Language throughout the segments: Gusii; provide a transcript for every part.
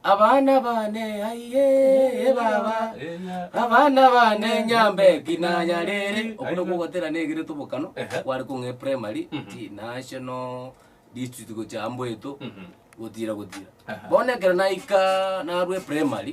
Abana bane aiye baba abana bane nyambe kinanyarere obo nabwo ogotera negere tobokano Ehe. kware kong'e primary ti national district gocha amboeto gotira gotira Aha. bono ekero naika narwe primary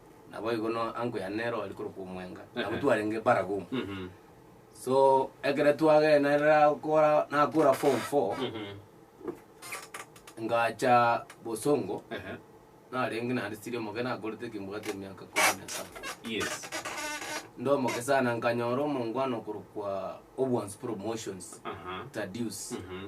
Naboigo no uncle yane nero ari korokwa omwenga. Ehe. Nabo twarenge baragumu. Mhm. So ekero twagenda rirakora nakora form four Mhm. ngacha bosongo Ehe. narenge naende siri omoke nakorete ekebwate emiaka ikomi na saba. Yes. Nde omoke sana nkanyora omongwana okorokwa Obwansu promotions Aha. Tadius. Mhm.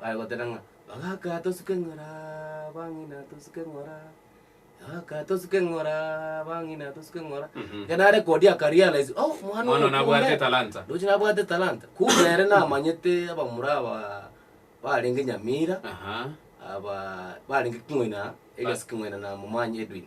Bagoteba ng'a, Ogaka tosuke ng'ora, bang'ina tosuke ng'ora, ogaka tosuke ng'ora, bang'ina tosuke ng'ora. Mhm. Ekero nare kodia akarealise, oh, omwana Omwana oyo nabwate kumbe- etalanta. ndoche nabwate etalanta. Kumbe ere namanyete abamura aba barenge Nyamira, Aha. aba barenge king'oina, Elias king'oina na Momanyi Edwin.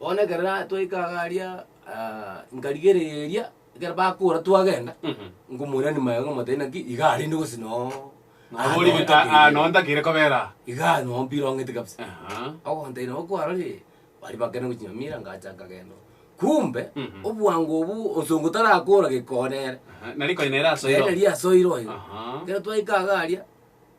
Bono ekero twaika iga aria, nkarigereria ekero bakora twagenda, nkomorani maega ng'omotebi naki iga arende gose noo Nabo ori gete aa, aa, noo ntakire kobera aa. Iga noo mpira ong'ete kabisa. Aha. Ogontebia nabo kwarorie, baria bakane gochinywa mira ngacha nkagenda. Kumbe, Mhm. obwango obwo onsongo tarakora gekonere. Aha, nari konya nere asoiro. Nere nari asoiro oyo. Aha. Ekero twaika iga aria.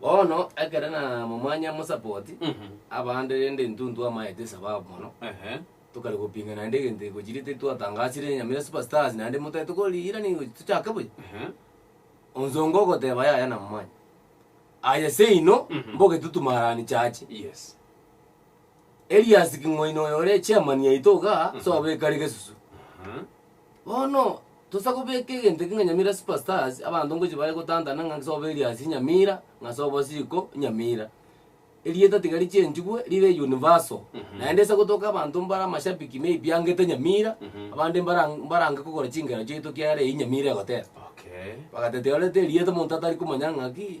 Bono ekere namomanya mosapoti Mhm. abande rende intwe ntwamaete esababu mono Ehe. tokare gopinga naende egento iko chire titwatangasire nyamira super stars naende motari tokoriira nigo tochake buya Ehe. onsongo ogoteba yaya namomanya aye seino Mhm. mbogetutu marani chache Yes. Elias king'waini oyo ore chairman yaito iga, tobeka are gesusu. Bono tosa kobeka egento ekio ng'a Nyamira Super Stars, abanto ngochi bare gotantana ng'a nse obe Elias Nyamira, ng'a nse obo Siko Nyamira. Erieta tiga richangigwe ribe universal, naende nse gotoka abanto mbare amashabiki maybe angete Nyamira, abande mbara mbarange kogora chingera chiaito kiagera eyio Nyamira egoteba. Okay. Bagateba tiga orete erieta omonto atari komanya ng'aki.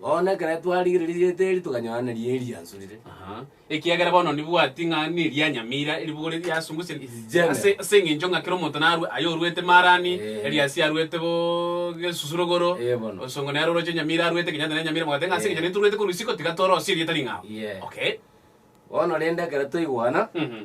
Bono ekero twarigereria rieta eri, tokanyora neri eri riansurire. Aha. Ekiagera bono nibwati ng'a neri yanyamira eribugo riria riasungusia It is general. ase ase eng'encho ng'a kera omonto narue aye oruete marani Eh. eliasi aruete bo gesusurugoro Eh, bono. osongo nere oroche onyamire aruete kenyatta nere nyamire mogoteba ng'a ase Eh. eng'encho nituruete korwa isiko tiga torosie erieta ring'ao Yeah. okay Bono rende ekero twaigwana, Mhm.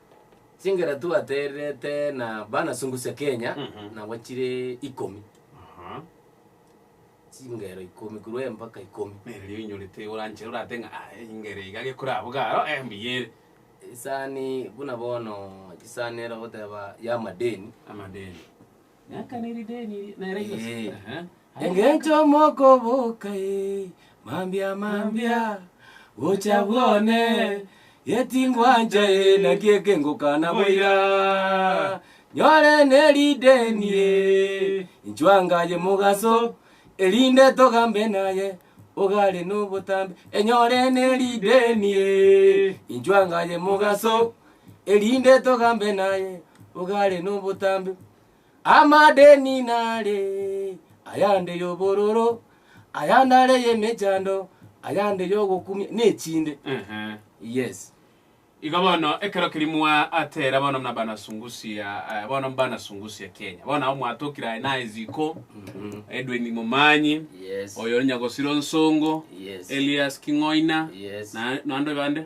Chingera twatererete na bana Sungusha Kenya Mhm. nabo chire ikomi, Aha. chingero ikomi korwa embaka ikomi. Nere ria oinyorete oranchere orate ng'a "Ah, engere iga gekorabuga aro, eh, mbuya ere. Esani buna bono chisani eragoteba ya amadeni, Amadeni. Engencho mokoboka e, mambia mambia, gocha bwone, getingwancha e, naki ekengokana boira. Nyore nerideni e, inchwangaye mogaso, erinde togambe naye, ogare nobotambe. Enyore nerideni e, inchwangaye mogaso, erinde togambe naye ogare nobotambe. Amadeni nare ayande yobororo, ayande are yemechando, ayande yogokumia, nechinde. Ehe. Yes. Igo bono ekero keria mwaatera bono muna banasungusia eh, bono banasungusia Kenya bono nabo mwatokire aye naye ziko Edwin Momanyi Yes. oyo onya gosira onsongo Yes. Elias King'oina Yes. na- naende bande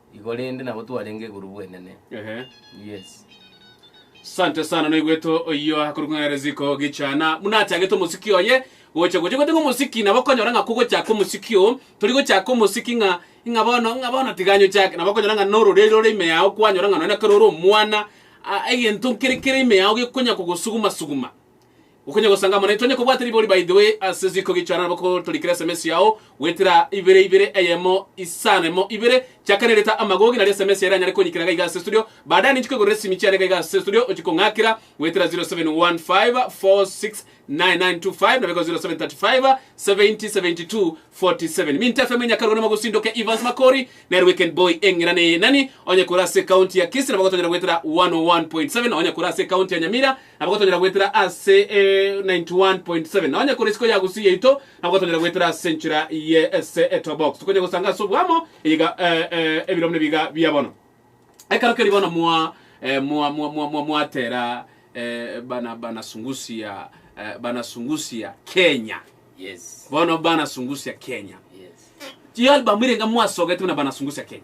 Igo rende nabo twarenge igoro bwenene. Ehe. Yes. Sante sana noigweto oyio akorwa ng'a Reziko Gichana buna achagete omosiki oye gocha gocha gwete ng'a omosiki nabo konyora ng'a kogochaka omosiki o tori gochaka omosiki ng'a ng'a bono ng'a bono tiga nyochake nabo konyora ng'a nororeri rore ime yao kwanyora ng'a nonya kare ore omwana a- egento nkere kere ime yao gekonya kogosuguma suguma Okonya gosanga amo naintwe onye kobwate ribori by the way ase ziko gichwana nabo ko torikire sms yao gwetera ibere ibere eyemo isano emo ibere chaka ne reta amagogi nario sms yaira anyare konyikina gaiga ase studio baadaye ninchi kwegorera esimi chiane gaiga ase studio ochi kong'akera gwetera 0715469925 nabego 0735707247 Minto FM Nyakarogo nimo gosindoke Evans Makori nere weekend boy eng'ira ne nani onye kore ase county ya Kisii nabo gotonyora gwetera 101.7 onye kore ase county ya Nyamira Nabo gotonyora goetera ase 91.7 nonye kore isiko ya gusii yaito nabo gotonyora goetera ase enchera ye ese eto box tokonya gosanga ase obwamo eyiga eh, eh, ebiro buna ebiga bia bono ekero keri bono mwa eh, mwa mwa mwa mwa mwatera eh, bana bana sungusia eh, bana sungusia Kenya Yes. bono bana sungusia Kenya Yes. chi album ire enga mwasogete buna bana sungusia Kenya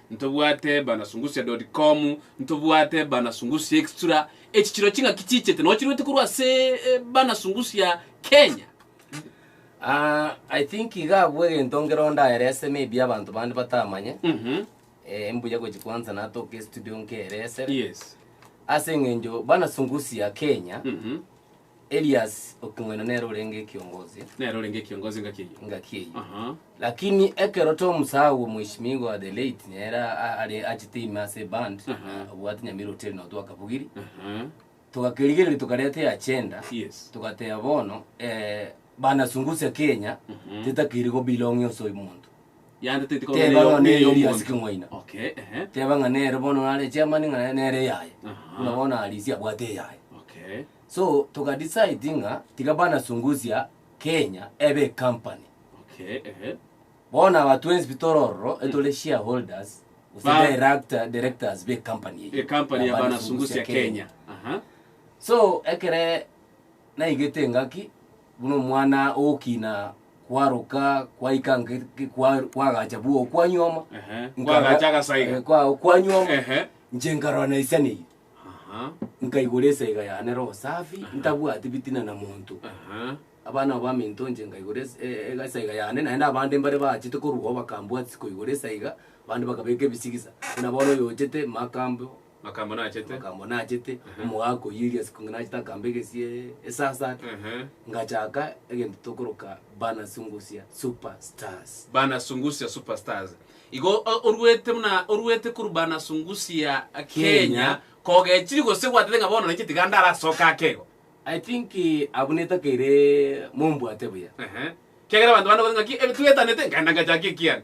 Ntobwate bana sungusia dot com Ntobwate bana sungusia extra Echi chiro ching'aki chichete Noo chiruete korwa ase bana sungusia Kenya Ah, I think iga abwo egento nkero ndaerese maybe abanto bande batamanye. Mhm. Eh, mbuya gochi kwanza natoke estudio nkerese. Yes. Ase eng'encho bana sungusia Kenya. Mhm. Elias okong'ina nere orenge ekiongozi Nere orenge ekiongozi ngaki eyio. engaki eyio. Aha. Lakini ekero Tom Sawa mweshimigo wa The Late nere a- are achete ime ase eband Mhm. obwate Nyamira Hotel nao twakabugiri Aha. togakerigereria tokareta eagenda Yes. togateba bono eh, bana Sungusia Kenya Mhm. tetakeiri go belong ase omonto Yande teti korwa Teba ng'a neye Eria ase y'omonto. keng'waina. Okay, ehe. Teba ng'a nere bono nare chairman ng'a nere eyaye. Aha. Buna bono Alisi abwate eyaye. Okay. So toka decide ng'a tiga bana Sunguzia Kenya ebe ecompany. Okay, ehe. Bono aba twensi pi tore ororo etore shareholders gose Ba- director, directors be company eyio. Ecompany ya bana Sunguzia Kenya. Aha. So ekere naigete engaki buna omwana ogokina kwaroka kwaika nge- nge- kwa- kwagacha bwa okwa nyuoma Ehe, Nkarora- kwagacha agasaiga. Eh, kwa- okwa nyuoma Ehe. nche nkarora naisaneirie Aha, nkaigora esaiga yane roho safi ntabwati bitina na monto aha. abana abo baminto nche nkaigora es- e- e- esaiga yane naende abande mbare baachete korwa ao bakambwatisi koigora esaiga abande bakabeka ebisigisa buna bono oyo ochete makambo Makambo nachete. makambo nachete omogaka oyio eria isiko nachete akamba egesie esasa Ehe. ngachaka egento tokoroka bana sungusia super stars Bana Sungusia Superstars. Igo o- oruete buna oruete korwa Bana Sungusia Kenya, Kenya. kogechiri gose gwatete ng'a bono nainche tiga ndarasoka ake igo. i think eh, abwo netakeire mombwate buya Ehe. Kiagera abanto bande gose ng'aki ebi twetanete nkaenda ngachaka ekiane.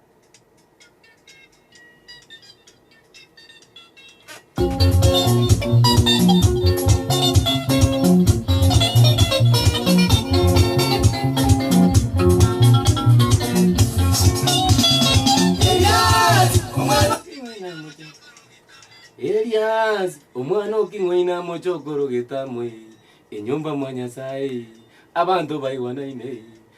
Elias, omwana oking'waina moche okorogeta moe, enyomba mwa Nyasaye, abanto baigwanaine,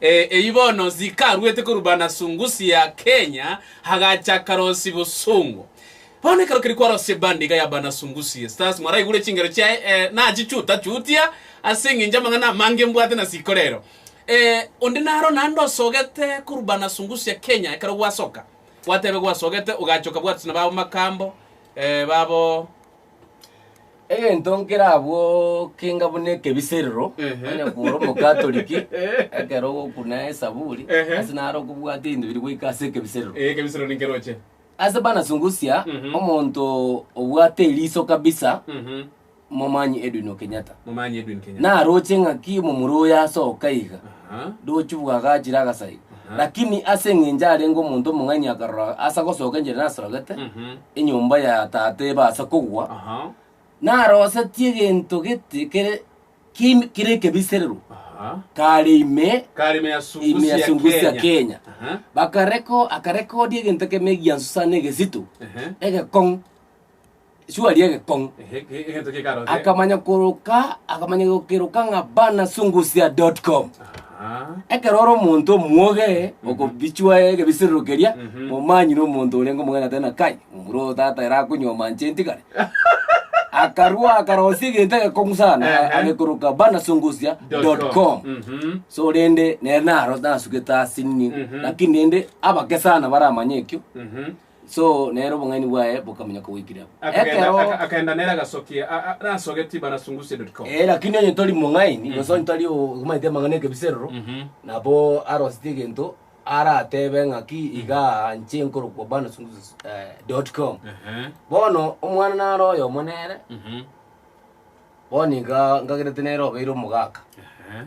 Eyio bono Zika aruete korwa Banasungusi ya Kenya agacha akarosia bosongo. Bono ekero keria kwarosia ebandi iga ya Banasungusi Stars mwaraigure chingero chiaye eh, nachichuta chutia ase engencho amang'ana amange mbwate na sikore ero. Eh, onde naro naende osogete korwa Banasungusi ya Kenya ekero gwasoka gwatebe gwasogete ogacha okabwatwa na babo Makambo eh, babo Egento nkere abwo kenga buna ekebiserero, Ehe. onye kore omokatoliki, Ehe. ekero ogokuna esaburi, Ehe. ase naro okobwate ebinto biri goika ase ekebiserero. Eh, kebisiro ni keroche. Ase banasungusia, Mhm. omonto obwate eriso kabisa, Mhm. momanyi Edwin Okenyatta. Momanyi Edwin Kenyatta. Naroche ng'aki momura oyo asoka iga. Ndochi bwagachire agasari. Lakini ase eng'encho arenge omonto omong'aini akarora ase agosoka enchera nasorogete, enyomba ya tata ebe ase kogwa, narosetie egento gete kere kim- kere ekebiserero kare ime Karime ya Sungusia, ime ya Sungusia Kenya. Kenya. Aha. Bakareko akarekodia egento keme egiansu sana egesito Ehe. egekong'u shuari egekong'u Ehe, ge- egento gekarore. akamanya koroka akamanya gokeroka ng'a banasungusia.com Aha. ekero ore omonto omwoge okobichwa egebisirero keria Mhm. omanyire omonto orenge omogeni atari na kai omura oyo tata ere akonywa manche ntigare akarua akarosia egento egekong'u sana Ehe. agekoroka banasungusia.com Mhm. so rende nere naro nasugete asini Mhm. lakini rende abake sana baramanya ekio Mhm. So nere obong'aini bwaye bokamenya kogoikire abwo. Akagenda, Ekero aka- akagenda nere agasokia a- a- arasogetie barasungusie.com. Eh, lakini onye tori mong'aini gose onye tari omanyete amang'ana ekebiserero Mhm. nabo arosete egento aratebe ng'aki iga nche nkorokwa bana sungusus eh, dot com Ehe. bono omwana naro oyomo nere Mhm. bono iga ngagerete nere obeire omogaka Ehe.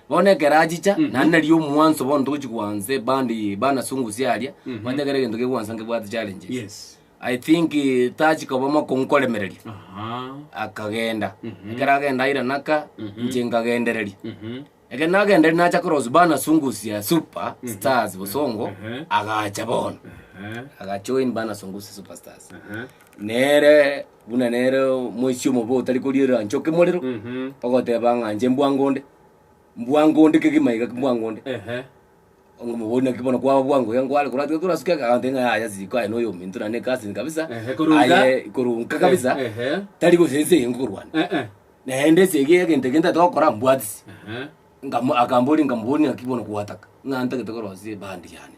Bono ekero achicha, naende nario omwanso bono togochi gwansa ebandi bana sungusi aria, manyete ekero egento kegwansa nkebwate challenges. Yes. I think eh, tachi koba mokongu koremereria, Aha. akagenda. Ekero agenda aira naka, inche nkagendereria. Mhm. Ekero nagendereria nacha cross bana sungusi ya super stars bosongo, Ehe. agacha bono. Aha. Agajoin bana sungusi super stars. Aha. Nere buna nere omoisia omobe otari korierera inche oke morero, ogoteba ng'a inche mbwango onde, mbwango onde kegima iga mbwango onde. Ehe. Onga omobori naki bono kwaba bwango iga nkware korwa tiga torasuke ake agoteba ng'a yaya ase riko aye noyo ominto naende cousin kabisa. Ehe, korunka. Aye korunka kabisa, Ehe. tari gose ense eye nkokorwana. Ehe. Naende ense eye egento eke ntaete gokora mbwatisi. Ehe. Nkamo- akamboria nkamobori naki bono kwataka ng'a ntagete korosia ebandi yane.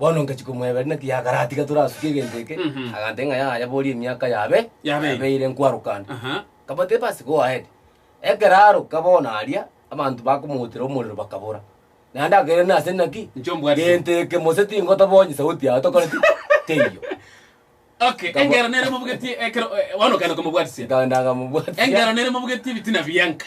Bono ngachia komwebera naki yakaratiga torasukie egento eke, Mhm. agantebia ng'a yaya boria emiaka yabe Yabeire. yabeire nkwarokana. Aha. Kabateba ase go ahead. Ekero aroka bono aria, abanto bakomootera omorero bakabora. Naende akaira nase naki? Inche ombwate. Gento eke mose tingotoba onye sauti yago tokoreti teiyo. Okay, Kabo- engero nere mobugetie ekero eh, bono okenda komobwatisia. Nkaenda nkamobwatisia. Engero nere mobugetie ebitina bianka.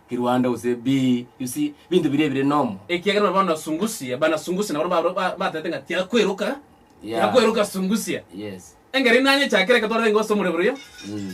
Kirwande gose bii, you see, binto biria ebire nomo. Ekiagera nabo bono sungusia, bana sungusia nabarabwo barabwo ba- batete ng'a tiakweroka, Yeah. tiakweroka sungusia. Yes. Engeri inanye chakera eke twarenge gose omorero boria, Mm.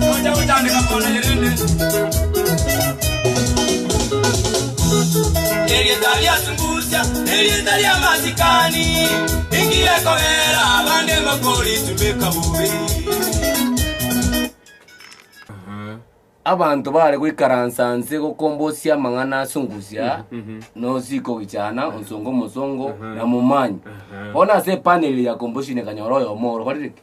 Toja gotandeka kwana ye rende. Erieta riatungusia nerieta ria masikani ingiya kobera abande mokoritumeka bobe. Abanto bare goikaransa nse gokombosia amang'ana asungusia nosiko gichana onsongo mosongo na momanyi. Bono ase epaneli ya komboshini kanyora oyomo orobarire ki?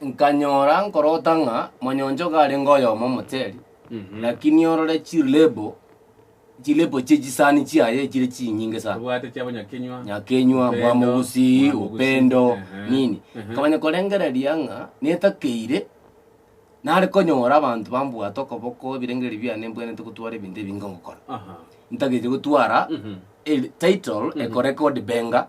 Nkanyora nkorota ng'a monyonchogo arenge oyomo omoteri, lakini orore chirlebo, chirlebo chie chisani chiaye chire chinyinge sana abwate chia bonyakenywa nyakenywa Upendo, bwamogusi bwamogusi, upendo ehe, nini ehe. kamanya korengereria ng'a netakeire nare konyora abanto bambwate okoboko ebirengeri biane mbwenerete gotwara ebinto ebinge ngokora Aha. ntagetie gotwara Mhm. el- title ekoreka odibenga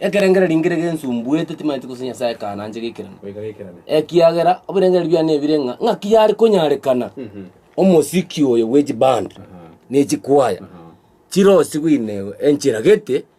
Ekerengererio rinkire gensumbuete, timaeti gose Nyasae kananche gekerane. Ekiagera ebirengererio biane ebire ng'a ng'aki yare konyarekana omosiki oyo bwe chiband ne chikwaya chire osigwe ime enchera gete.